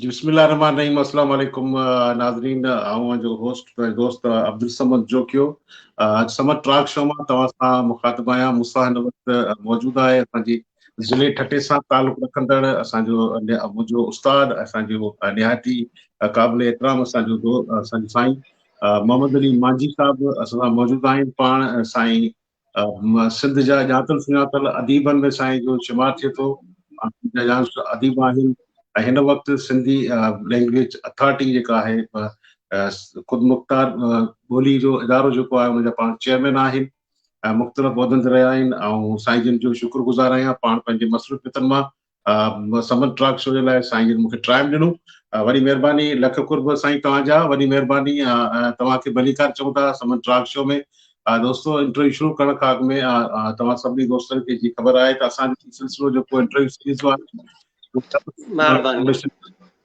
جي بسم الله الرحمٰن الرحيم السلام عليڪم ناظرين آئون جو هوسٽ ۽ دوست عبدالصمد جوکيو اڄ سمت ٽراڪ شو مان توهان سان مخاطب آهيان مون سان هن وقت موجود آهي اسان جي ضلع ٺٽي سان تعلق رکندڙ اسان جو منهنجو استاد اسان جو نهايت ئي قابل احترام اسان جو دو اسان جو سائين محمد علي مانجي صاحب اسان سان موجود آهن پاڻ سائين سنڌ جا ڄاتل سڃاتل اديبن ۾ سائين جو شمار ٿئي ٿو. اديب آهن ۽ هن وقت سنڌي لينگويج اٿارٽي جيڪا آهي خود مختار ٻولي جو ادارو جيڪو آهي ان جا پاڻ چيئرمين آهن ۽ مختلف عهدن تي رهيا آهن ۽ سائين جن جو شڪر گذار آهيان پاڻ پنهنجي مصروفيتن مان سمن ٽاڪ شو جي لاء سائين جن مون کي ٽائيم ڏنو وڏي مھرباني لک قرب سائين توھان جا وڏي مھرباني توھان کي ڀليڪار چئون ٿا سمن ٽاڪ شو ۾ دوستو انٽرويو شروع ڪرڻ کان اڳ ۾ توھان سڀني دوستن کي جي خبر آھي ته اسان جو سلسلو جيڪو انٽرويو سيريز جو آھي مھرباني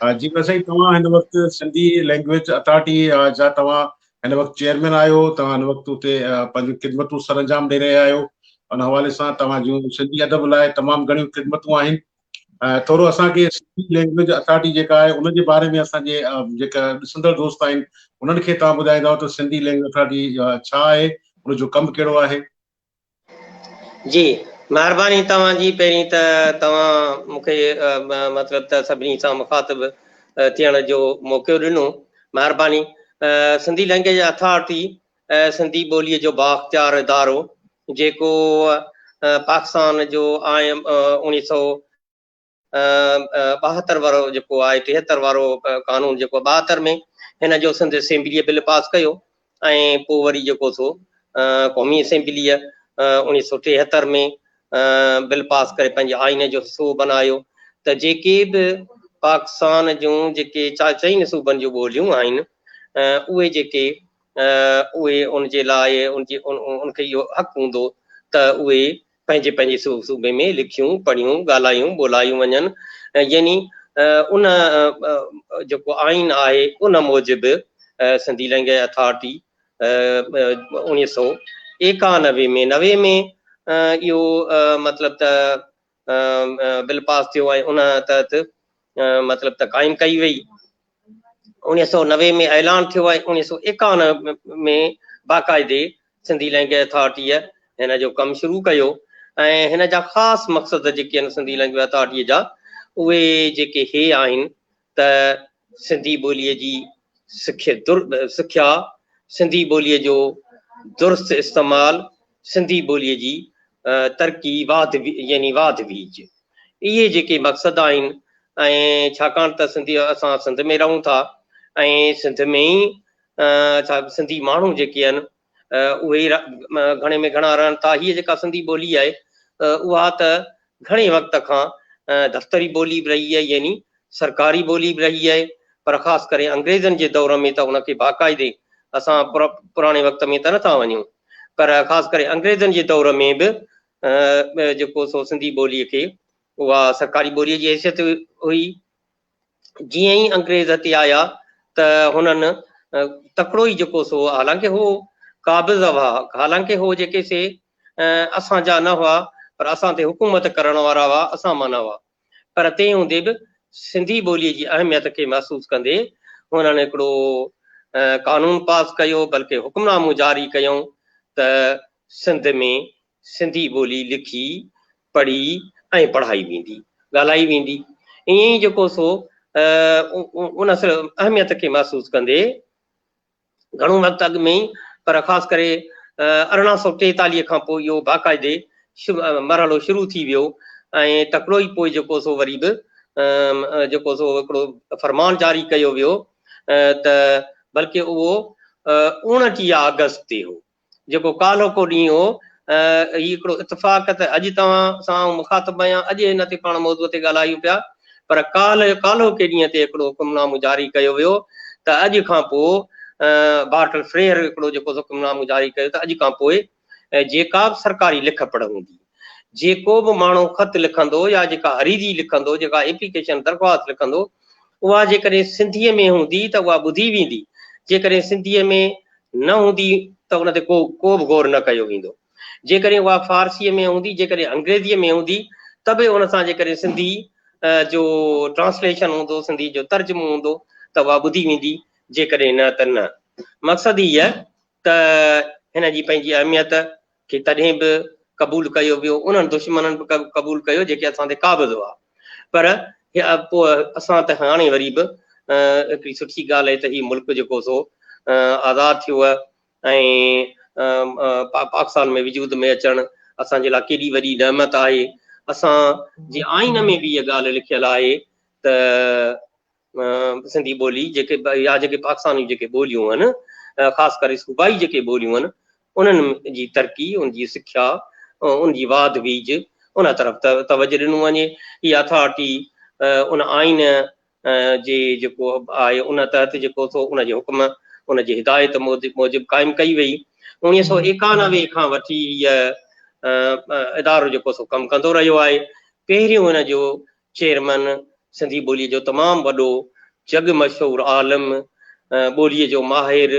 جي ميان سائين توهان هن وقت سنڌي لينگويج اٿارٽي جا توهان هن وقت چيئرمين آهيو توهان هن وقت اتي پنهنجون خدمتون سر انجام ڏئي رهيا آهيو ان حوالي سان توهان جون سنڌي ادب لاء تمام گهڻيون خدمتون آهن ٿورو اسان کي سنڌي لينگويج اٿارٽي جيڪا آهي ان جي باري ۾ اسان جي جيڪا ڏسندڙ دوست آهن انهن کي توهان ٻڌائيندا ته سنڌي لينگويج اٿارٽي ڇا آهي ان جو ڪم ڪهڙو آهي جي مھرباني توھان جي پهرين ته توهان مون کي مطلب ته سڀني سان مخاطب ٿيڻ جو موقعو ڏنو مھرباني سنڌي لئنگئيج اٿارٽي سنڌي ٻولي جو بااختيار ادارو جيڪو پاڪستان جو آئين اوڻيھ سئو ٻاهتر وارو جيڪو آهي ٽيهتر وارو قانون جيڪو ٻاهتر ۾ هن جو سنڌ اسيمبليء بل پاس ڪيو ۽ پوء وري جيڪو سو قومي اسيمبليء اڻيهه سو ٽيهتر ۾ بل پاس ڪري پنهنجي آئين جو حصو بنايو ته جيڪي به پاڪستان جون جيڪي چئن صوبن جون ٻوليون آهن اهي جيڪي اهي ان جي لاء ان جي ان کي اهو حق هوندو ته اهي پنهنجي پنهنجي صوبي ۾ لکيون، پڙهيون، ڳالهايون، ٻولايون وڃن يعني ان جيڪو آئين آهي ان موجب سنڌي لئنگئج اٿارٽي اوڻيهه سئو ايڪانوي ۾ نوي ۾ اهو مطلب ته بل پاس ٿيو ۽ ان تحت مطلب ته قائم ڪئي وئي. اوڻيهه سؤ نوي ۾ اعلان ٿيو ۽ اوڻيهه سؤ ايڪاونهه ۾ باقاعدي سنڌي لئنگويج اٿارٽيء هن جو ڪم شروع ڪيو ۽ هن جا خاص مقصد جيڪي آهن سنڌي لئنگويج اٿارٽيء جا اهي جيڪي هي آهن ته سنڌي ٻوليء جي سکيا، سنڌي ٻوليء جو درست استعمال، سنڌي ٻوليء جي ترقي واڌ يعني واڌ ويج اهي جيڪي مقصد آهن ۽ ڇاڪاڻ ته سنڌي اسان سنڌ ۾ رهون ٿا ۽ سنڌ ۾ ئي ڇا سنڌي ماڻهو جيڪي آهن اهي گهڻي ۾ گهڻا رهن ٿا هيء جيڪا سنڌي ٻولي آهي اها ته گهڻي وقت کان دفتري ٻولي به رهي آهي يعني سرڪاري ٻولي به رهي آهي پر خاص ڪري انگريزن جي دور ۾ ته ان کي باقاعدي اسان پراڻي وقت ۾ ته نٿا وڃون پر خاص ڪري انگريزن جي دور ۾ به جيڪو سو سنڌي ٻولي کي اها سرڪاري ٻولي جي حيثيت هئي جيئن ئي انگريز هتي آيا ته هنن تڪڙو ئي جيڪو سو حالانڪه هو قابض هئا، حالانڪه هو جيڪي سي اسان جا نه هئا پر اسان تي حڪومت ڪرڻ وارا هئا، اسان مان نه هئا پر تنهن هوندي به سنڌي ٻوليء جي اهميت کي محسوس ڪندي هنن هڪڙو قانون پاس ڪيو بلڪه حڪمنامو جاري ڪيائون ته سنڌ ۾ سنڌي ٻولي لکي، پڙهي ۽ پڙهائي ويندي، ڳالهائي ويندي. ائين ئي جيڪو سو ان اصل اهميت کي محسوس ڪندي گهڻو وقت اڳ ۾ ئي پر خاص ڪري ارڙهن سؤ ٽيتاليهه کان پوء اهو باقاعدي مرحلو شروع ٿي ويو ۽ تڪڙو ئي پوء جيڪو سو وري به جيڪو سو هڪڙو فرمان جاري ڪيو ويو ته بلڪه اهو اوڻٽيهه آگسٽ تي هو. جيڪو ڪالهوڪو ڏينهن هو. هي هڪڙو اتفاق ته اڄ توهان سان آئون مخاطب آهيان، اڄ هن تي پاڻ موضوع تي ڳالهايون پيا، پر ڪالهه ڪالهوڪي ڏينهن تي هڪڙو حڪم نامو جاري ڪيو ويو ته اڄ کان پوء بارٽل فريئر هڪڙو جيڪو حڪم نامو جاري ڪيو ته اڄ کان پوء جيڪا به سرڪاري لک پڙهه هوندي، جي ڪو به ماڻهو خط لکندو يا جيڪا حريري لکندو، جيڪا ايپليڪيشن، درخواست، لکندو، اها جيڪڏهن سنڌيء ۾ هوندي ته اها ٻڌي ويندي، جيڪڏهن سنڌيء ۾ نه هوندي ته ان تي ڪو ڪو به غور نه ڪيو ويندو. جيڪڏهن اها فارسيء ۾ هوندي، جيڪڏهن انگريزيء ۾ هوندي ته به ان سان جيڪڏهن سنڌيء جو ٽرانسليشن هوندو، سنڌيء جو ترجمو هوندو ته اها ٻڌي ويندي، جيڪڏهن نه ته نه. مقصد هيء ته هن جي پنهنجي اهميت کي تڏهن به قبول ڪيو ويو، انهن دشمنن به قبول ڪيو جيڪي اسان تي قابض هئا، پر پوء اسان ته هاڻي وري به هڪڙي سٺي ڳالهه آهي ته هي ملڪ جيڪو سو آزاد ٿيو ۽ پاڪستان ۾ وجود ۾ اچڻ اسان جي لاء ڪيڏي وڏي نعمت آهي، اسان جي آئين ۾ به اها ڳالهه لکيل آهي ته سنڌي ٻولي جيڪي يا جيڪي پاڪستان جون جيڪي ٻوليون آهن خاص ڪري صوبائي جيڪي ٻوليون آهن انهن جي ترقي ان جي سکيا ان جي واڌ ويج ان طرف توجه ڏنو وڃي هي اٿارٽي ان آئين جي جيڪو آهي ان تحت جيڪو ٿو ان جي حڪم ان جي هدايت موجب قائم ڪئي وئي انيس سو ايڪانوي کان وٺي هيء ادارو جيڪو سو ڪم ڪندو رهيو آهي پهريون هن جو چيئرمين سنڌي ٻوليء جو تمام وڏو جڳ مشهور عالم ٻوليء جو ماهر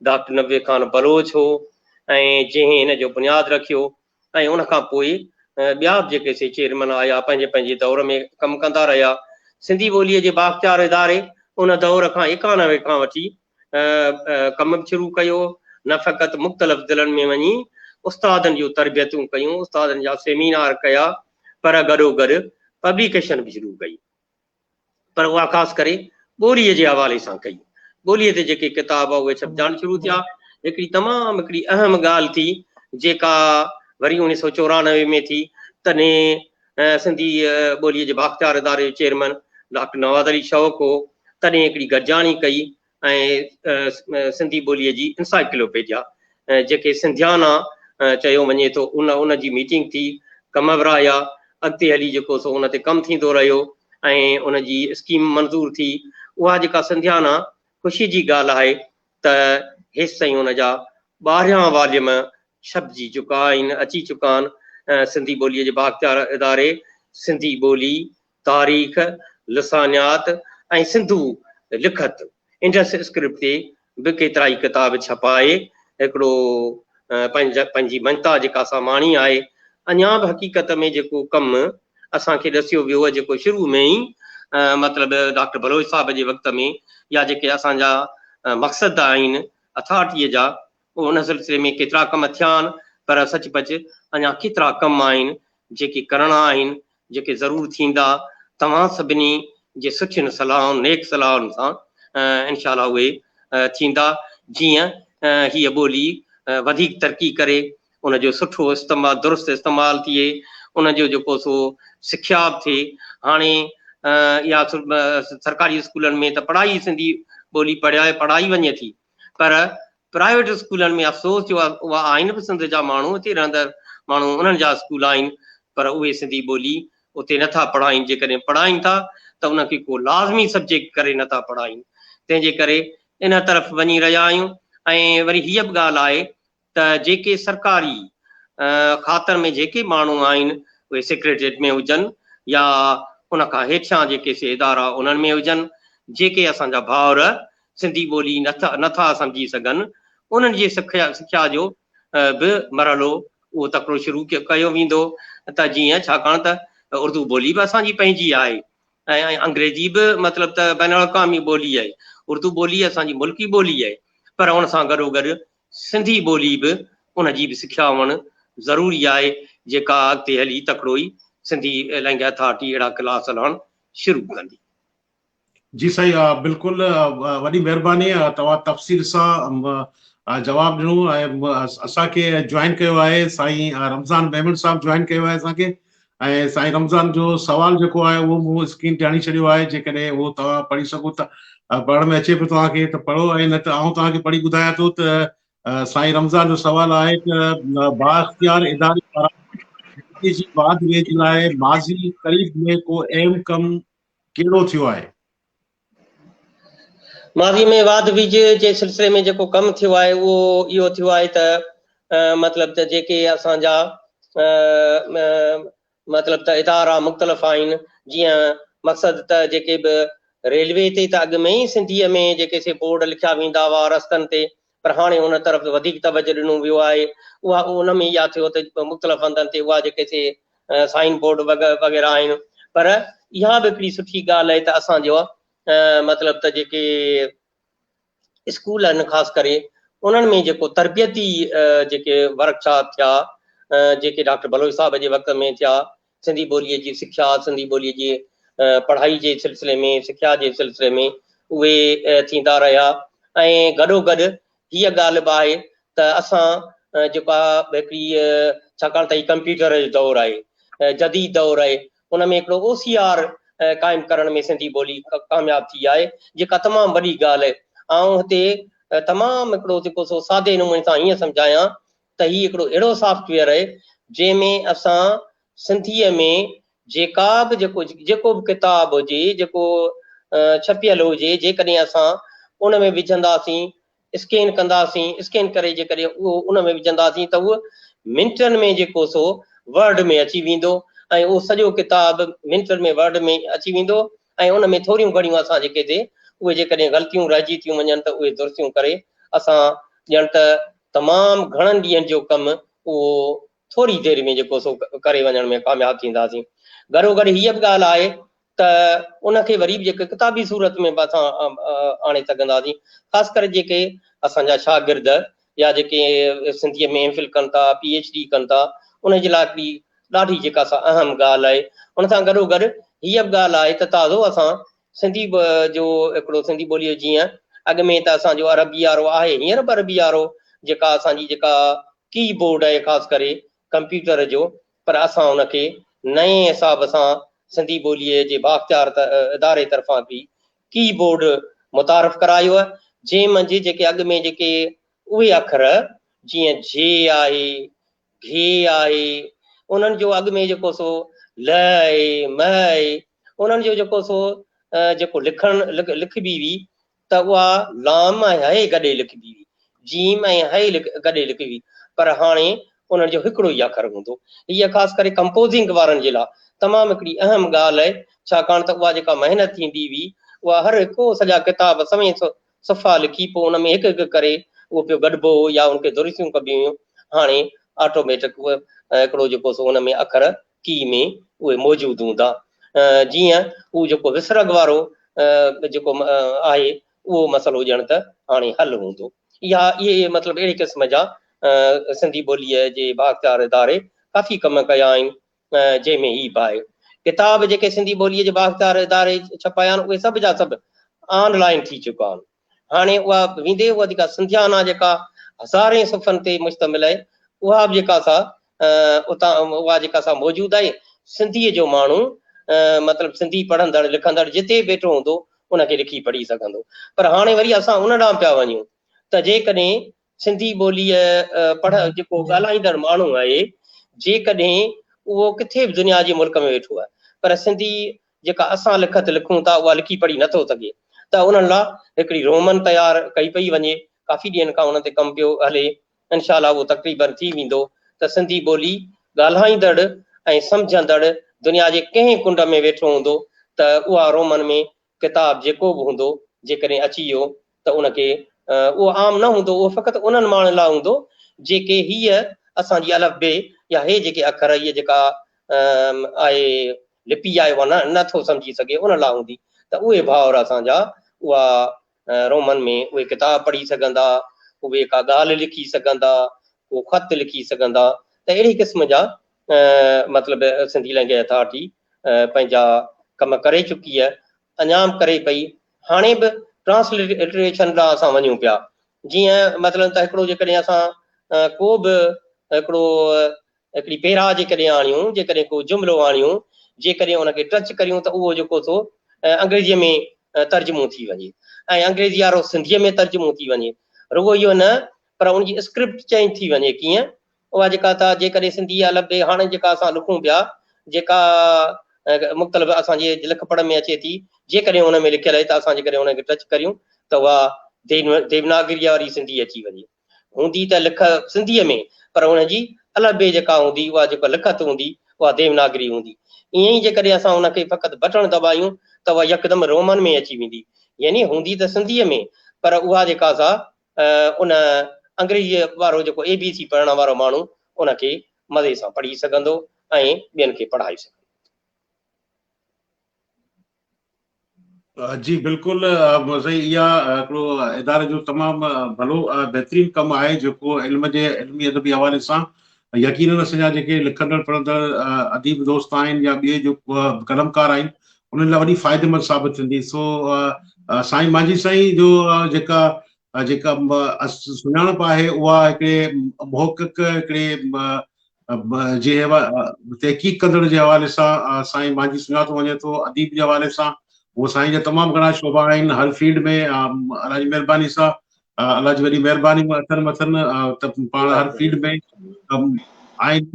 ڊاڪٽر نبي خان بلوچ هو ۽ جنهن ان جو بنياد رکيو ۽ ان کان پوء ٻيا به جيڪي سي چيئرمين آيا پنهنجي پنهنجي دور ۾ ڪم ڪندا رهيا سنڌي ٻوليء جي بااختيار اداري ان دور کان ايڪانوي کان وٺي ڪم به شروع ڪيو، نه فقط مختلف ضلعن ۾ وڃي استادن جون تربيتون ڪيون، استادن جا سيمينار ڪيا پر گڏوگڏ پبليڪيشن به شروع ڪئي پر اها خاص ڪري ٻوليء جي حوالي سان ڪئي. ٻوليء تي جيڪي ڪتاب اهي ڇپجاڻ شروع ٿيا. هڪڙي تمام هڪڙي اهم ڳالهه ٿي جيڪا وري اوڻيهه سؤ چورانوي ۾ ٿي تڏهن سنڌي ٻوليء جي بااختيار اداري جو چيئرمين ڊاڪٽر نواز علي شوق هو، تڏهن هڪڙي گڏجاڻي ڪئي ۽ سنڌي ٻوليء جي انسائيڪلوپيڊيا، جنهن کي سنڌيانا چيو وڃي ٿو، ان جي ميٽنگ ٿي، ڪم ورهايا، اڳتي هلي جيڪو سو ان تي ڪم ٿيندو رهيو ۽ ان جي اسڪيم منظور ٿي، اها جيڪا سنڌيانا خوشي جي ڳالهه آهي ته هيستائين ان جا ٻارهيان واليوم ڇپجي چڪا آهن، اچي چڪا آهن. سنڌي ٻوليء جي بااختيار اداري سنڌي ٻولي، تاريخ، لسانيات ۽ سنڌو لکت، انڊس اسڪرپٽ، تي به ڪيترائي ڪتاب ڇپا آهي. هڪڙو پنهنجي مڃتا جيڪا ساماڻي آهي، اڃا به حقيقت ۾ جيڪو ڪم اسان کي ڏسيو ويو هو جيڪو شروع ۾ ئي مطلب ڊاڪٽر بلوچ صاحب جي وقت ۾ يا جيڪي اسان جا مقصد آهن اٿارٽيء جا ان سلسلي ۾ ڪيترا ڪم ٿيا آهن پر سچ پچ اڃا ڪيترا ڪم آهن جيڪي ڪرڻا آهن جيڪي ضرور ٿيندا توهان سڀني جي سٺين صلاحن نيڪ صلاحن سان انشاء الله اهي ٿيندا جيئن هيء ٻولي وڌيڪ ترقي ڪري ان جو سٺو استعمال درست استعمال ٿئي ان جو جيڪو سو سکياپ ٿئي هاڻي اها سرڪاري اسڪولن ۾ ته پڙهائي سنڌي ٻولي پڙهائي پڙهائي وڃي ٿي پر پرائيويٽ اسڪولن ۾ افسوس جو اها آهن به سنڌ جا ماڻهو اتي رهندڙ ماڻهو انهن جا اسڪول آهن پر اهي سنڌي ٻولي اتي نٿا پڙهائين جيڪڏهن پڙهائين ٿا ته ان کي ڪو لازمي سبجيڪٽ ڪري نٿا پڙهائين تنهن جي ڪري ان طرف وڃي رهيا آهيون ۽ وري هيء به ڳالهه آهي ته جيڪي سرڪاري کاتن ۾ جيڪي ماڻهو آهن اهي سيڪريٽريٽ ۾ هجن يا ان کان هيٺيان جيڪي سي ادارا انهن ۾ هجن جيڪي اسان جا ڀائر سنڌي ٻولي نه ٿا سمجهي سگهن انهن جي سکيا جو به مرحلو اهو تڪڙو شروع ڪيو ويندو ته جيئن ڇاڪاڻ ته اردو ٻولي به اسان جي پنهنجي آهي ۽ انگريزي به مطلب ته بين الاقوامي ٻولي آهي اردو ٻولي اسان جي ملڪي ٻولي آهي پر ان سان گڏو گڏ سنڌي ٻولي به ان جي به سکيا هئڻ ضروري آهي جيڪا اڳتي هلي تڪڙو ئي سنڌي لئنگ اٿارٽي اهڙا ڪلاس هلائڻ شروع ڪندي. جي سائين بلڪل وڏي مهرباني توهان تفصيل سان جواب ڏنو ۽ اسان کي جوائن ڪيو آهي سائين رمضان ميمڻ صاحب جوائن ڪيو آهي اسان کي ۽ سائين رمضان جو سوال جيڪو آهي اهو مون اسڪرين تي هڻي ڇڏيو آهي جيڪڏهن اهو توهان پڙهي سگهو ته پڙهڻ ۾ اچي پيو توهان کي ته پڙهو ۽ نه ته آئون توهان کي پڙهي ٻڌايان ٿو ته سائين رمضان جو سوال آهي ته بااختيار اداري پاران جي جي بعد ويجهه لاء ماضي قريب ۾ ڪو اهم ڪم ڪهڙو ٿيو آهي ماضي ۾ واڌ ويجهه جي سلسلي ۾ جيڪو ڪم ٿيو آهي اهو اهو ٿيو آهي ته مطلب ته جيڪي اسان جا مطلب ته ادارا مختلف آهن جيئن مقصد ته جيڪي به ريلوي تي ته اڳ ۾ ئي سنڌيء ۾ جيڪي سي بورڊ لکيا ويندا هئا رستن تي پر هاڻي ان طرف وڌيڪ توجه ڏنو ويو آهي، اها ان ۾ اها ٿيو ته مختلف هنڌن تي اها جيڪي سي سائين بورڊ وغيره آهن پر اها به هڪڙي سٺي ڳالهه آهي ته اسان جو مطلب ته جيڪي اسڪول آهن خاص ڪري انهن ۾ جيڪو تربيتي جيڪي ورڪشاپ ٿيا جيڪي ڊاڪٽر بلوچ صاحب جي وقت ۾ ٿيا سنڌي ٻوليء جي سکيا، سنڌي ٻوليء جي پڙهائي جي سلسلي ۾ سکيا جي سلسلي ۾ اهي ٿيندا رهيا ۽ گڏو گڏ هيء ڳالهه به آهي ته اسان جيڪا به هڪڙي ڇاڪاڻ ته هي ڪمپيوٽر جو دور آهي، جديد دور آهي، ان ۾ هڪڙو او سي آر قائم ڪرڻ ۾ سنڌي ٻولي ڪامياب ٿي آهي، جيڪا تمام وڏي ڳالهه آهي. آئون هتي تمام هڪڙو جيڪو سو سادي نموني سان هيئن سمجهايان ته هي هڪڙو اهڙو سافٽ ويئر آهي جنهن ۾ اسان سنڌيء ۾ جيڪا به جيڪو جيڪو به ڪتاب هجي جيڪو ڇپيل هجي جيڪڏهن اسان ان ۾ وجهنداسين اسڪين ڪنداسين اسڪين ڪري جيڪڏهن اهو ان ۾ وجهنداسين ته اهو منٽن ۾ جيڪو سو ورڊ ۾ اچي ويندو ۽ اهو سڄو ڪتاب منٽن ۾ ورڊ ۾ اچي ويندو ۽ ان ۾ ٿوريون گهڙيون اسان جي ڪيتي اهي جيڪڏهن غلطيون رهجي ٿيون وڃن ته اهي درستيون ڪري اسان ڄڻ ته تمام گهڻن ڏينهن جو ڪم اهو ٿوري دير ۾ جيڪو سو ڪري وڃڻ ۾ ڪامياب ٿينداسين. گهرو گهر هيء به ڳالهه آهي ته ان کي وري به جيڪو ڪتابي صورت ۾ به اسان آڻي سگهنداسين خاص ڪري جيڪي اسان جا شاگرد يا جيڪي سنڌيء ۾ ايم فل ڪن ٿا پي ايڇ ڊي ڪن ٿا انهن جي لاء هڪڙي ڏاڍي جيڪا سا اهم ڳالهه آهي. ان سان گڏو گڏ هيء به ڳالهه آهي ته تازو اسان سنڌي به جو هڪڙو سنڌي ٻوليء جو جيئن اڳ ۾ ته اسان جو عربي وارو آهي هينئر به عربي وارو جيڪا اسان جي جيڪا ڪي بورڊ آهي خاص ڪري ڪمپيوٽر جو پر اسان ان کي نئين حساب سان سنڌي ٻوليء جي بااختيار اداري طرفان به ڪي بورڊ متعارف ڪرايو آهي جنهن منجهه جيڪي اڳ ۾ جيڪي اهي اکر جيئن جي آهي گهي آهي، انهن جو اڳ ۾ جيڪو سو لئه آهي، مئه آهي، انهن جو جيڪو سو جيڪو لکڻ لکبي هئي ته اها لام ۽ هئي گڏي لکبي هئي، جيم ۽ هئي گڏي لکبي هئي، پر هاڻي انهن جو هڪڙو ئي اکر هوندو. هيء خاص ڪري ڪمپوزنگ وارن جي لاء تمام هڪڙي اهم ڳالهه آهي، ڇاڪاڻ ته اها جيڪا محنت ٿيندي هئي، اها هر هڪ سڄا ڪتاب سوين صفحا لکي پوء ان ۾ هڪ هڪ ڪري اهو پيو گڏبو هو يا ان کي درستيون ڪبيون هيون هاڻي آٽوميٽڪ هڪڙو جيڪو سو ان ۾ اکر ڪي ۾ اهي موجود هوندا جيئن هو جيڪو وسرڳ وارو جيڪو آهي اهو مسئلو ڄڻ ته هاڻي حل هوندو اها اهي مطلب اهڙي قسم جا سنڌي ٻوليء جي بااختيار اداري ڪافي ڪم ڪيا آهن جنهن ۾ هي به آهي. ڪتاب جيڪي سنڌي ٻوليء جي بااختيار اداري ڇپايا آهن، اهي سڀ جا سڀ آن لائين ٿي چڪا آهن. هاڻي اها ويندي اها جيڪا سنڌيانا جيڪا هزارين صفحن تي مشتمل آهي، اها به جيڪا سا اتان اها جيڪا سا موجود آهي. سنڌيء جو ماڻهو مطلب سنڌي پڙهندڙ لکندڙ جتي به ويٺو هوندو، ان کي لکي پڙهي سگهندو. پر هاڻي وري اسان ان ڏانهن پيا وڃون ته جيڪڏهن سنڌي ٻوليء پڙهه جيڪو ڳالهائيندڙ ماڻهو آهي، جيڪڏهن اهو ڪٿي به دنيا جي ملڪ ۾ ويٺو آهي، پر سنڌي جيڪا اسان لکت لکون ٿا، اها لکي پڙهي نه ٿو سگهي، ته انهن لاء هڪڙي رومن تيار ڪئي پئي وڃي، ڪافي ڏينهن کان ان تي ڪم پيو هلي، انشاء الله اهو تقريبن ٿي ويندو ته سنڌي ٻولي ڳالهائيندڙ ۽ سمجهندڙ دنيا جي ڪنهن ڪنڊ ۾ ويٺو هوندو ته اها رومن ۾ ڪتاب جيڪو به هوندو جيڪڏهن اچي ويو ته ان کي اهو عام نه هوندو اهو فقط انهن ماڻهن لاء هوندو جيڪي هيء اسان جي الف بي يا هي جيڪي اکر هيء جيڪا آء لپي آهي اها نه نه ٿو سمجهي سگهي ان لاء هوندي ته اهي ڀائر اسان جا اها رومن ۾ اهي ڪتاب پڙهي سگهندا اهي ڪا ڳالهه لکي سگهندا ڪو خط لکي سگهندا ته اهڙي قسم جا مطلب سنڌي لئنگئيج اٿارٽي پنهنجا ڪم ڪري چڪي ۽ اڃا به ڪري پئي هاڻي به ٽرانسلٽريشن ڏانهن اسان وڃون پيا جيئن مثلاً ته هڪڙو جيڪڏهن اسان ڪو به هڪڙو هڪڙي پيرا جيڪڏهن آڻيون جيڪڏهن ڪو جملو آڻيون جيڪڏهن ان کي ٽچ ڪريون ته اهو جيڪو سو انگريزيء ۾ ترجمو ٿي وڃي ۽ انگريزي وارو سنڌيء ۾ ترجمو ٿي وڃي رڳو اهو نه پر ان جي اسڪرپٽ چينج ٿي وڃي ڪيئن اها جيڪا ته جيڪڏهن سنڌي يا لبي هاڻي جيڪا اسان لکون پيا جيڪا مختلف اسان جي لک پڙهه ۾ اچي ٿي جيڪڏهن ان ۾ لکيل آهي ته اسان جيڪڏهن ان کي ٽچ ڪريون ته اها ديوناگريء واري سنڌي اچي وڃي هوندي ته لک سنڌيء ۾ پر ان جي الفبي جيڪا هوندي اها جيڪا لکت هوندي اها ديوناگري هوندي ائين ئي جيڪڏهن اسان ان کي فقط بٽڻ دٻايون ته اها يڪدم رومن ۾ اچي ويندي يعني هوندي ته سنڌيء ۾ پر اها جيڪا سا ان انگريزيء وارو جيڪو اي بي سي پڙهڻ وارو ماڻهو ان کي مزي سان پڙهي سگهندو ۽ ٻين کي پڙهائي سگهندو. جي بلڪل محمد سائين اها هڪڙو اداري جو تمام ڀلو ۽ بهترين ڪم آهي جيڪو علم جي علمي ادبي حوالي سان يقينن اسان جا جيڪي لکندڙ پڙهندڙ اديب دوست آهن يا ٻئي جو قلمڪار آهن انهن لاء وڏي فائديمند ثابت ٿيندي سو سائين مانجهي سائين جو جيڪا جيڪا سڃاڻپ آهي اها هڪڙي محقق هڪڙي جي تحقيق ڪندڙ جي حوالي سان سائين مانجهي سڃاتو وڃي ٿو اديب جي حوالي سان هو سائين جا تمام گهڻا شعبا آهن هر فيلڊ ۾ الله جي مهرباني سان الله جي وڏي مهرباني مان اٿن مٿن ته پاڻ هر فيلڊ ۾ آئين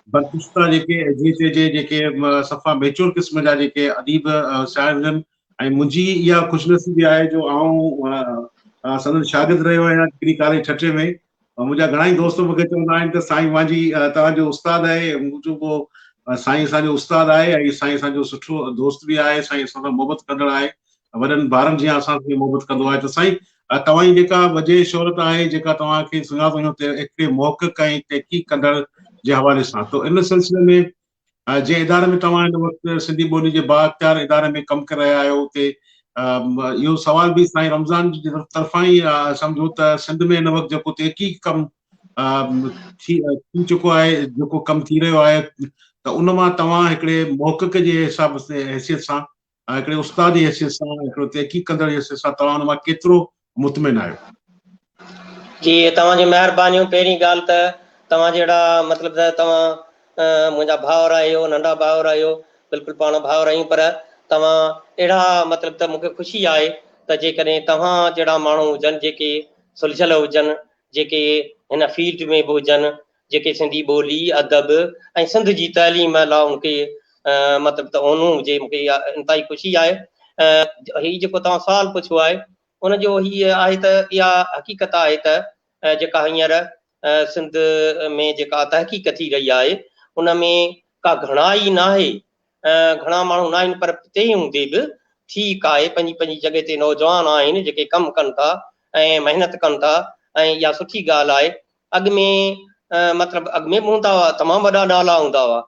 برپستا جيڪي جي تي جي جيڪي صفا ميچور قسم جا جيڪي اديب سياڻ هجن ۽ منهنجي اها خوش نصيبي آهي جو آئون سندن شاگرد رهيو آهيان ٽڪري ڪاليج ٺٽي ۾ ۽ منهنجا گهڻا ئي دوست مونکي چوندا آهن ته سائين مانجهي توهان جو استاد آهي مون چيو پوء سائين اسان جو استاد آهي ۽ سائين اسان جو سٺو دوست به آهي سائين اسان سان محبت ڪندڙ آهي وڏن ڀارن جيان اسان سان محبت ڪندو آهي ته سائين توهان جي جيڪا وجهه شهرت آهي جيڪا توهان کي سڃاڻندو هيو ته هڪڙي محقق ۽ تحقيق ڪندڙ جي حوالي سان تو ان سلسلي ۾ جنهن اداري ۾ توهان هن وقت سنڌي ٻولي جي بااختيار اداري ۾ ڪم ڪري رهيا آهيو اتي اهو سوال به سائين رمضان جي طرفان ئي سمجهو ته سنڌ ۾ هن وقت جيڪو تحقيق ڪم ٿي چڪو آهي جيڪو ڪم ٿي رهيو آهي ته ان مان توهان هڪڙي محقق جي حساب حيثيت سان ۽ هڪڙي استاد جي حيثيت سان ۽ هڪڙو تحقيق ڪندڙ جي حيثيت سان توهان ان مان ڪيترو مطمئن آهيو؟ جي توهان جون مهربانيون پهرين ڳالهه ته توهان جهڙا مطلب ته توهان منهنجا ڀائر آهيو ننڍا ڀائر آهيو بلڪل پاڻ ڀائر آهيون پر توهان اهڙا مطلب ته مون کي خوشي آهي ته جيڪڏهن توهان جهڙا ماڻهو هجن جيڪي سلجهيل هجن جيڪي هن فيلڊ ۾ به هجن جيڪي سنڌي ٻولي، ادب ۽ سنڌ جي تعليم لا مون کي مطلب ته اونو هجي مون کي اها انتهائي خوشي آهي ۽ هي جيڪو توهان سوال پڇيو آهي ان جو هي آهي ته اها حقيقت آهي ته جيڪا هينئر سنڌ ۾ جيڪا تحقيق ٿي رهي آهي ان ۾ ڪا گهڻائي ناهي گهڻا ماڻهو ناهن پر تنهن هوندي به ٺيڪ آهي پنهنجي پنهنجي جڳهه تي نوجوان آهن جيڪي ڪم ڪن ٿا ۽ محنت ڪن ٿا ۽ اها سٺي ڳالهه آهي اڳ ۾ مطلب اڳ ۾ به هوندا هئا تمام وڏا نالا هوندا هئا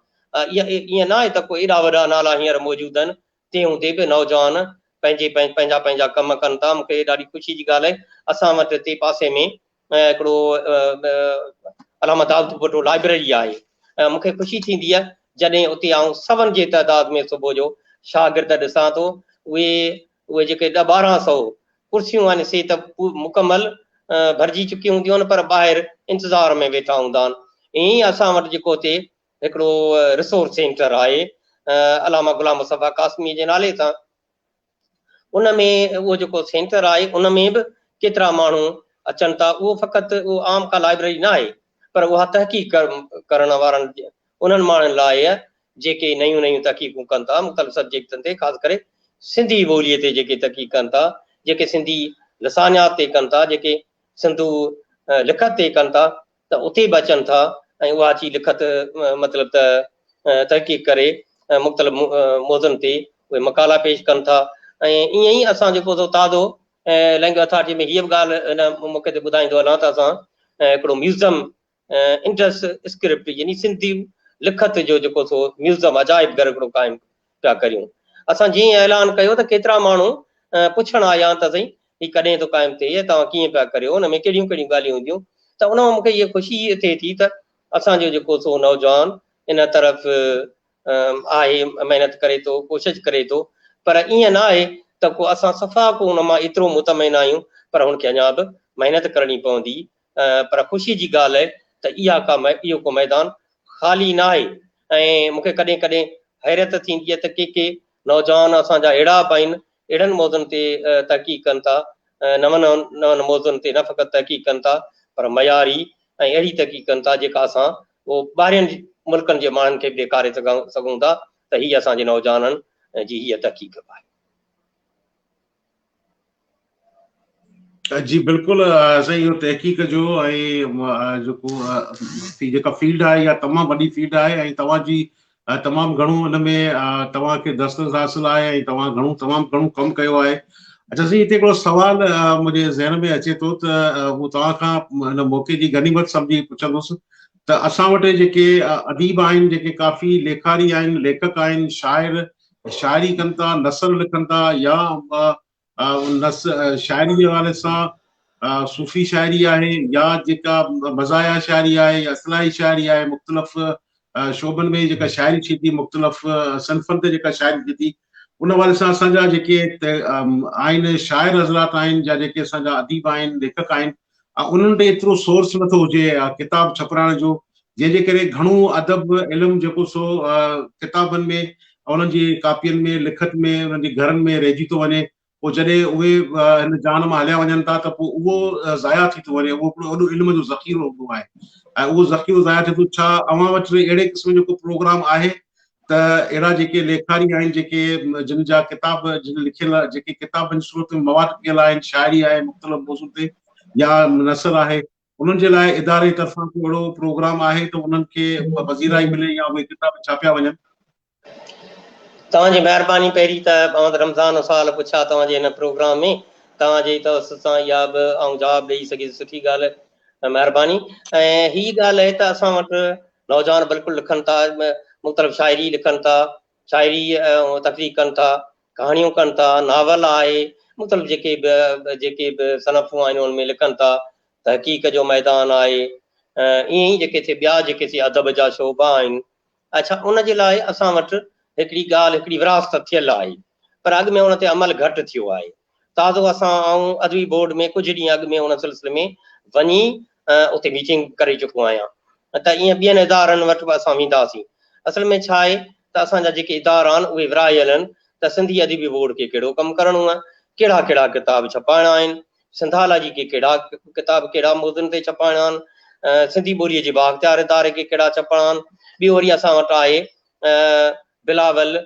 ائين ناهي ته ڪو ايڏا وڏا نالا هينئر موجود آهن تنهن هوندي به نوجوان پنهنجي پنهنجا پنهنجا ڪم ڪن ٿا مون کي ڏاڍي خوشي جي ڳالهه آهي اسان وٽ هتي پاسي ۾ هڪڙو علامه داود ڀٽو لائبريري آهي مون کي خوشي ٿيندي آهي جڏهن اتي آئون سون جي تعداد ۾ صبح جو شاگرد ڏسان ٿو اهي اهي جيڪي ڏهه ٻارهن سئو ڪرسيون آهن سي ته مڪمل ڀرجي چڪيون هونديون آهن پر ٻاهر انتظار ۾ ويٺا هوندا آهن ائين ئي اسان وٽ جيڪو هتي هڪڙو رسورس سينٽر آهي علامه غلام مصطفيٰ قاسمي جي نالي سان ان ۾ اهو جيڪو سينٽر آهي ان ۾ به ڪيترا ماڻهو اچن ٿا اهو فقط اهو عام ڪا لائبرري نه آهي پر اها تحقيق ڪرڻ وارن انهن ماڻهن لاء جيڪي نيون نيون تحقيقون ڪن ٿا مختلف سبجيڪٽن تي خاص ڪري سنڌي ٻوليء تي جيڪي تحقيق ڪن ٿا، جيڪي سنڌي لسانيات تي ڪن ٿا، جيڪي سنڌو لکت تي ڪن ٿا ته اتي به اچن ٿا ۽ اها اچي لکت مطلب ته تحقيق ڪري مختلف موضوعن تي اهي مقالا پيش ڪن ٿا ۽ ائين ئي اسان جيڪو سو تازو لينگويج اٿارٽي ۾ هيء به ڳالهه هن موقعي تي ٻڌائيندو هلان ته اسان هڪڙو ميوزم انڊس اسڪرپٽ يعني سنڌي لکت جو جيڪو سو ميوزم عجائب گهر هڪڙو قائم پيا ڪريون. اسان جيئن ئي اعلان ڪيو ته ڪيترا ماڻهو پڇڻ آيا ته سائين هي ڪڏهن ٿو قائم ٿئي ۽ توهان ڪيئن پيا ڪريو ان ۾ ڪهڙيون ڪهڙيون ڳالهيون هونديون ته ان مان مون کي اها خوشي ٿئي ٿي ته اسان جو جيڪو سو نوجوان ان طرف آهي محنت ڪري ٿو ڪوشش ڪري ٿو پر ائين نه آهي ته ڪو اسان صفا ڪو ان مان ايترو مطمئن آهيون پر هن کي اڃا به محنت ڪرڻي پوندي پر خوشي جي ڳالهه اهي ته اها ڪا اهو ڪو ميدان خالي نه آهي ۽ مون کي ڪڏهن ڪڏهن حيرت ٿيندي آهي ته ڪي ڪي نوجوان اسان جا اهڙا به آهن اهڙن موضوعن تي تحقيق ڪن ٿا نون نون موضوعن تي نه فقط تحقيق ڪن ٿا پر معياري ۽ اهڙي تحقيق ڪن ٿا جيڪا اسان اهو ٻاهرين ملڪن جي ماڻهن کي به ڏيکاري سگهون ٿا ته هي اسان جي نوجوانن جي هيء تحقيق به آهي. جي بلڪل سائين اهو تحقيق جو ۽ جيڪو جيڪا فيلڊ آهي اها تمام وڏي فيلڊ آهي ۽ توهان جي تمام گهڻو ان ۾ توهان کي دسترس حاصل آهي ۽ توهان گهڻو تمام گهڻو ڪم ڪيو آهي اچا سائين هتي هڪڙو سوال منهنجي ذهن ۾ اچي ٿو ته مون توهان کان هن موقعي جي غنيمت سمجهي پڇندس ته اسان وٽ جيڪي اديب آهن جيڪي ڪافي ليکاري آهن ليکڪ آهن شاعر شاعري ڪن ٿا، نثر لکن ٿا يا شاعري جي حوالي سان صوفي شاعري آهي يا جيڪا مزايا شاعري آهي يا اصلاحي شاعري آهي مختلف شعبن ۾ جيڪا شاعري ٿئي ٿي مختلف صنفن تي جيڪا شاعري ٿئي ٿي ان حوالي سان اسان جا جيڪي آهن شاعر حضرات آهن يا جيڪي اسان جا اديب آهن ليکڪ آهن ها انهن ڏي ايترو سورس نه ٿو هجي ڪتاب ڇپرائڻ جو جنهن جي ڪري گهڻو ادب علم جيڪو سو ڪتابن ۾ انهن جي ڪاپين ۾ لکت ۾ انهن جي گهرن ۾ رهجي ٿو وڃي پوء جڏهن اهي هن جهان مان هليا وڃن ٿا ته پوء اهو ضايع ٿي ٿو وڃي اهو هڪڙو وڏو علم جو ذخيرو هوندو آهي ۽ اهو ذخيرو ضايع ٿئي ٿو ڇا اوهان وٽ اهڙي قسم جو ڪو پروگرام آهي ته اهڙا جيڪي ليکاري آهن جيڪي جن جا ڪتاب جن لکيل جيڪي ڪتابن جي صورت ۾ مواد پيل آهن شاعري آهي مختلف موضوع تي يا نثر آهي انهن جي لاء اداري جي طرفان ڪو اهڙو پروگرام آهي ته انهن کي پذيرائي ملي يا اهي ڪتاب ڇاپيا وڃن؟ توهان جي مهرباني پهرين ته محمد رمضان جو سوال هو ڇا توهان جي هن پروگرام ۾ توهان جي توسط سان اها به آئون جواب ڏئي سگهيس سٺي ڳالهه مهرباني ۽ هي ڳالهه اهي ته اسان وٽ نوجوان بلڪل لکن ٿا، مختلف شاعري لکن ٿا، شاعري تخليق ڪن ٿا، ڪهاڻيون ڪن ٿا، ناول آهي، مختلف جيڪي به جيڪي به صنفون آهن ان ۾ لکن ٿا، تحقيق جو ميدان آهي، ائين ئي جيڪي سي ٻيا جيڪي سي ادب جا شعبا آهن، اڇا ان جي لاء اسان وٽ هڪڙي ڳالهه هڪڙي وراثت ٿيل آهي، پر اڳ ۾ ان تي عمل گهٽ ٿيو آهي. تازو اسان آئون ادبي بورڊ ۾ ڪجهه ڏينهن اڳ ۾ ان سلسلي ۾ وڃي اتي ميٽنگ ڪري چڪو آهيان ته ائين ٻين ادارن وٽ به اسان وينداسين. اصل ۾ ڇا آهي ته اسان جا جيڪي ادارا آهن اهي ورهايل آهن ته سنڌي ادبي بورڊ کي ڪهڙو ڪم ڪرڻو آهي، ڪهڙا ڪهڙا ڪتاب ڇپائڻا آهن، سنڌالاجي کي ڪهڙا ڪتاب ڪهڙا موضوعن تي ڇپائڻا آهن، سنڌي ٻوليء جي بااختيار اداري کي ڪهڙا ڇپڻا آهن، ٻيو وري اسان وٽ آهي بلاول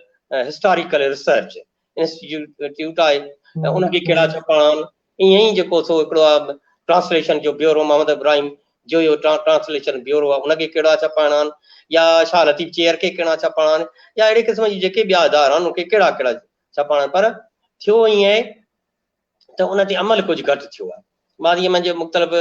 هسٽاريڪل ريسرچ انسٽيٽيوٽ آهي ۽ ان کي ڪهڙا ڇپاڻا آهن ائين ئي جيڪو سو هڪڙو آهي ٽرانسليشن جو بيورو محمد ابراهيم جو اهو ٽرانسليشن بيورو آهي ان کي ڪهڙا ڇپاڻا آهن يا شاهه لطيف چيئر کي ڪهڙا ڇپاڻا آهن يا اهڙي قسم جي جيڪي ٻيا ادارا آهن ان کي ڪهڙا ڪهڙا ڇپاڻا آهن پر ٿيو ائين آهي ته ان تي عمل ڪجهه گهٽ ٿيو آهي. ماضيء منجهه مختلف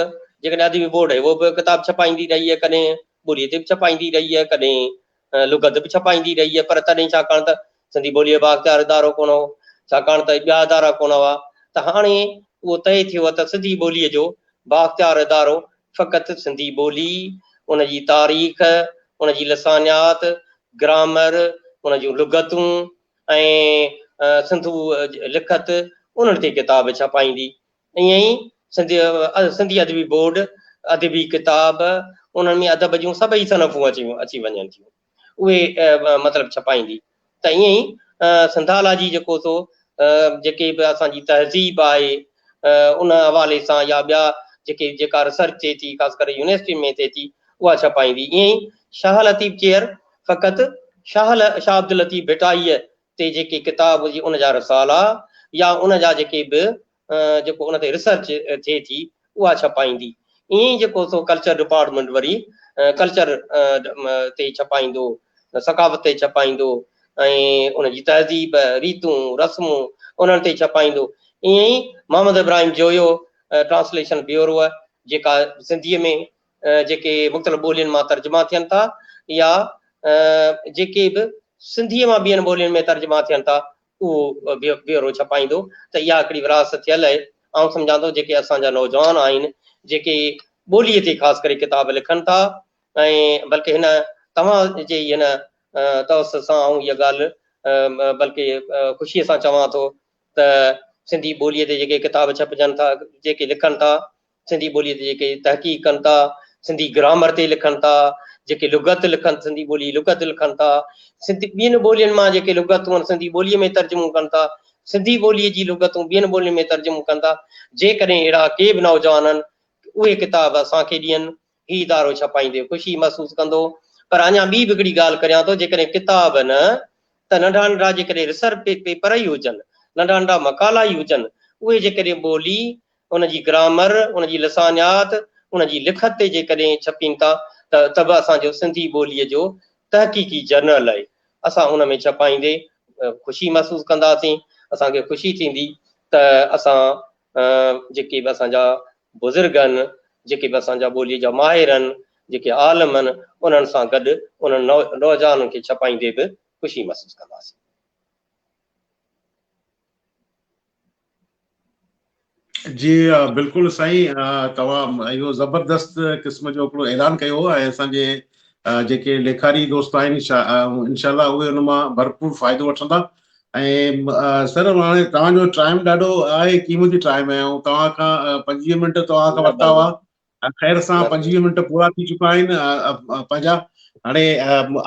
جيڪڏهن ادبي بورڊ هيو اهو به ڪتاب ڇپائيندي رهي آهي ڪڏهن ٻوليء تي به ڇپائيندي رهي آهي ڪڏهن لغت به ڇپائيندي رهي آهي پر تڏهن ڇاڪاڻ ته سنڌي ٻوليء بااختيار ادارو ڪونه هو ڇاڪاڻ ته ٻيا ادارا ڪونه هئا ته هاڻي اهو طئي ٿيو آهي ته سنڌي ٻوليء جو بااختيار ادارو فقط سنڌي ٻولي ان جي تاريخ ان جي لسانيات گرامر ان جون لغتون ۽ سنڌو لکت انهن تي ڪتاب ڇپائيندي. ائين ئي سنڌي ادبي بورڊ ادبي ڪتاب انهن ۾ ادب جون سڀئي صنفون اچي وڃن ٿيون اهي مطلب ڇپائيندي ته ائين ئي سنڌالاجي جيڪو سو جيڪي به اسان جي تهذيب آهي ان حوالي سان يا ٻيا جيڪي جيڪا ريسرچ ٿئي ٿي خاص ڪري يونيورسٽين ۾ ٿئي ٿي اها ڇپائيندي ائين ئي شاهه لطيف چيئر فقط شاهه شاهه عبداللطيف ڀٽائيء تي جيڪي ڪتاب هجي ان جا رسالا يا ان جا جيڪي به جيڪو ان تي ريسرچ ٿئي ٿي اها ڇپائيندي. ائين ئي جيڪو سو ڪلچر ڊپارٽمينٽ وري ڪلچر تي ڇپائيندو، ثقافت تي ڇپائيندو ۽ ان جي تهذيب، ريتون، رسمون انهن تي ڇپائيندو. ائين ئي محمد ابراهيم جويو ٽرانسليشن بيوروء جيڪا سنڌيء ۾ جيڪي مختلف ٻولين مان ترجما ٿين ٿا يا جيڪي به سنڌيء مان ٻين ٻولين ۾ ترجما ٿين ٿا اهو بيورو ڇپائيندو ته اها هڪڙي ورهاست ٿيل اهي آئون سمجهان ٿو جيڪي اسان جا نوجوان آهن جيڪي ٻولي تي خاص ڪري ڪتاب لکن ٿا ۽ بلڪه هن توهان جي هن توسط سان آئون اها ڳالهه بلڪه خوشي سان چوان ٿو ته سنڌي ٻولي تي جيڪي ڪتاب ڇپجن ٿا جيڪي لکن ٿا سنڌي ٻوليء تي جيڪي تحقيق ڪن ٿا، سنڌي گرامر تي لکن ٿا، جيڪي لغت لکن، سنڌي ٻولي جي لغت لکن ٿا، سنڌ ٻين ٻولين مان جيڪي لغتون سنڌي ٻوليء ۾ ترجمو ڪن ٿا، سنڌي ٻوليء جي لغتون ٻين ٻولين ۾ ترجمو ڪن ٿا، جيڪڏهن اهڙا ڪي به نوجوان هن اهي ڪتاب اسان کي ڏين، هي ادارو ڇپائيندي خوشي محسوس ڪندو، پر اڃا ٻي به هڪڙي ڳالهه ڪريان ٿو جيڪڏهن ڪتاب نه ته ننڍا ننڍا جيڪڏهن ريسرچ پيپر ئي هجن، ننڍا ننڍا مقالا ئي هجن، اهي جيڪڏهن ٻولي ان جي گرامر، ان جي لسانيات، ان جي لکت تي جيڪڏهن ڇپين ٿا ته ته به اسان جو سنڌي ٻوليء جو تحقيقي جرنل آهي. اسان ان ۾ ڇپائيندي خوشي محسوس ڪنداسين. اسان کي خوشي ٿيندي ته اسان جيڪي به اسان جا بزرگ آهن، جيڪي به اسان جا ٻوليء جا ماهر آهن، جيڪي عالم آهن، انهن سان گڏ انهن نوجوانن کي ڇپائيندي به خوشي محسوس ڪنداسين. جي بلڪل سائين توهان اهو زبردست قسم جو هڪڙو اعلان ڪيو ۽ اسان جي جيڪي ليکاري دوست آهن انشاء الله اهي ان مان ڀرپور فائدو وٺندا ۽ سر هاڻي توهان جو ٽائيم ڏاڍو آهي قيمتي ٽائيم آهي ۽ توهان کان پنجويهه منٽ توهان کان ورتا هئا خير سان پنجويهه منٽ پورا ٿي چڪا آهن پنهنجا هاڻي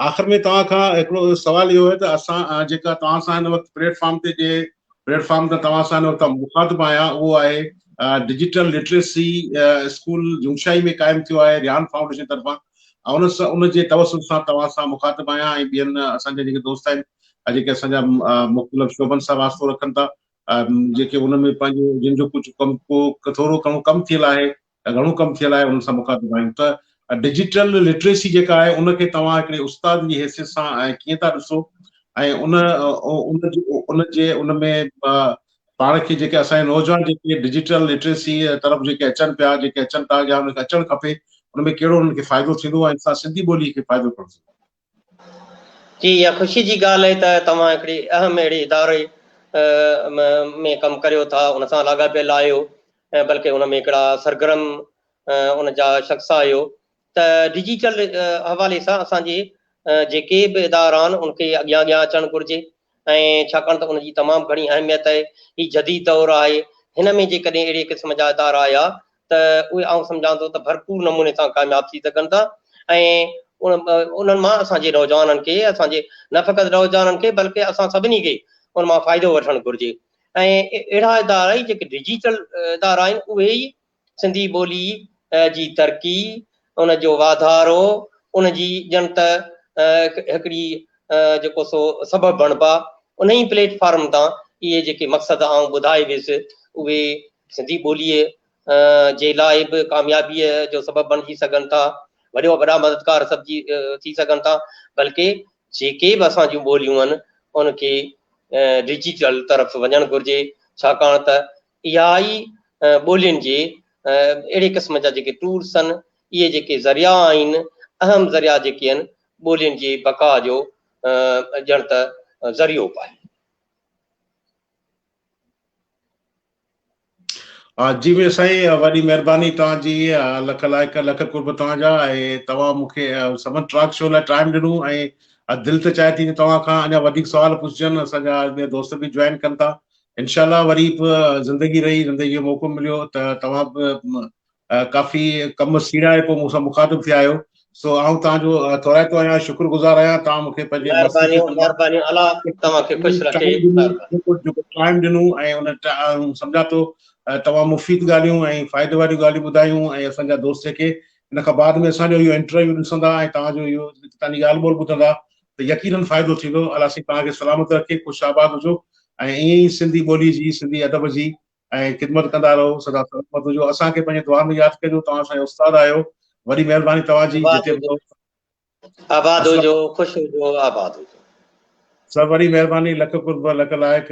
آخر ۾ توهان کان هڪڙو سوال اهو آهي ته اسان جيڪا توهان سان هن وقت پليٽ فارم تي جي پليٽ فارم تان توهان سان هن وقت مخاطب آهيان اهو آهي ڊجيٽل لٽريسي اسڪول جوشاهي ۾ قائم ٿيو آهي ريان فائونڊيشن طرفان ان سان ان جي توسط سان توهان سان مخاطب آهيان ۽ ٻين اسان جا جيڪي دوست آهن جيڪي اسان جا مختلف شعبن سان واسطو رکن ٿا جيڪي ان ۾ پنهنجو جن جو ڪجهه ڪم ڪو ٿورو گهڻو ڪم ٿيل آهي يا گهڻو ڪم ٿيل آهي انهن سان مخاطب آهيون ته ڊجيٽل لٽريسي جيڪا آهي ان کي توهان هڪڙي استاد جي حيثيت سان ۽ ڪيئن ٿا ڏسو ۽ ان ان جي ان ۾ پاڻ کي جيڪي اسان جا نوجوان جيڪي ڊجيٽل لٽريسي طرف جيڪي اچن پيا جيڪي اچن ٿا يا ان کي اچڻ کپي ان ۾ ڪهڙو انهن کي فائدو ٿيندو ۽ سنڌي ٻولي کي فائدو ڪهڙو ٿيندو جي اها خوشي جي ڳالهه آهي ته توهان هڪڙي اهم اهڙي اداري ۾ ڪم ڪريو ٿا، ان سان لاڳاپيل آهيو ۽ بلڪه ان ۾ هڪڙا سرگرم ان جا شخص آهيو ته ڊجيٽل حوالي سان اسان جي جيڪي به ادارا آهن ان کي اڳيان اڳيان اچڻ گهرجي. ۽ ڇاڪاڻ ته ان جي تمام گهڻي اهميت آهي. هي جديد دور آهي. هن ۾ جيڪڏهن اهڙي قسم جا ادارا آيا ته اهي آئون سمجهان ٿو ته ڀرپور نموني سان ڪامياب ٿي سگهن ٿا ۽ انهن مان اسان جي نوجوانن کي اسان جي نه فقط نوجوانن کي بلڪه اسان سڀني کي ان مان فائدو وٺڻ گهرجي ۽ اهڙا ادارا ئي جيڪي ڊجيٽل ادارا آهن اهي ئي سنڌي ٻولي جي ترقي، ان جو واڌارو، ان جي ڄڻ ته هڪڙي جيڪو سو سبب بڻبا، انهي پليٽ فارم تان اهي جيڪي مقصد آئون ٻڌائي ويس، اهي سنڌي ٻوليء جي لاء به ڪاميابيء جو سبب بڻجي سگهن ٿا، وڏو وڏا مددگار سبجي ٿي سگهن ٿا، بلڪه جيڪي به اسان جون ٻوليون آهن، ان کي ڊجيٽل طرف وڃڻ گهرجي، ڇاڪاڻ ته اها ئي ٻولين جي اهڙي قسم جا جيڪي ٽور سن اهي جيڪي ذريعا آهن اهم ذريعا جيڪي آهن ٻولين جي بقا جو ڄڻ ته ذريعو به آهن. جي مير سائين وڏي مهرباني توهان جي لک لائق لک قرب توهان جا ۽ توهان مون کي سمن ٽراڪ شو لاء ٽائيم ڏنو ۽ دل ته چاهي ٿي ته توهان کان اڃا وڌيڪ سوال پڇجن اسان جا ٻيا دوست به جوائن ڪن ٿا انشاء الله وري به زندگي رهي زندگي جو موقعو مليو ته توهان به ڪافي ڪم سيڙائي پوء مون سان مخاطب ٿيا آهيو سو آئون توهان جو ٿورائتو آهيان شڪر گذار آهيان توهان مون کي پنهنجي مهربانيون مهربانيون الله توهان کي خوش رکي جيڪو ٽائيم ڏنو ۽ ان سمجهان ٿو تمام مفيد ڳالهيون ۽ فائدي واريون ڳالهيون ٻڌايون ۽ اسان جا دوست جيڪي ان کان بعد ۾ اسان جو اهو انٽرويو ڏسندا ۽ توهان جو اهو توهان جي ڳالهه ٻولهه ٻڌندا ته يقينن فائدو ٿيندو. الله سائين توهان کي سلامت رکي خوش آباد هجو ۽ ائين ئي سنڌي ٻولي جي سنڌي ادب جي ۽ خدمت ڪندا رهو سدا سلامت هجو اسان کي پنهنجي دعا ۾ ياد ڪجو توهان اسان جا استاد آهيو وڏي مهرباني توهان جي جتي به رهو آباد هجو خوش هجو آباد هجو سر وڏي مهرباني لک قرب لک لائق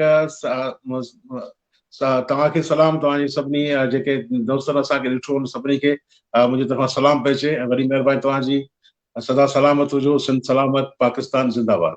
توهان کي سلام توهان جي سڀني جيڪي دوستن اسان کي ڏٺو ان سڀني کي منهنجي طرفان سلام پئي چئي ۽ وڏي مهرباني توهان جي سدا سلامت هجو سنڌ سلامت پاڪستان زنده باد.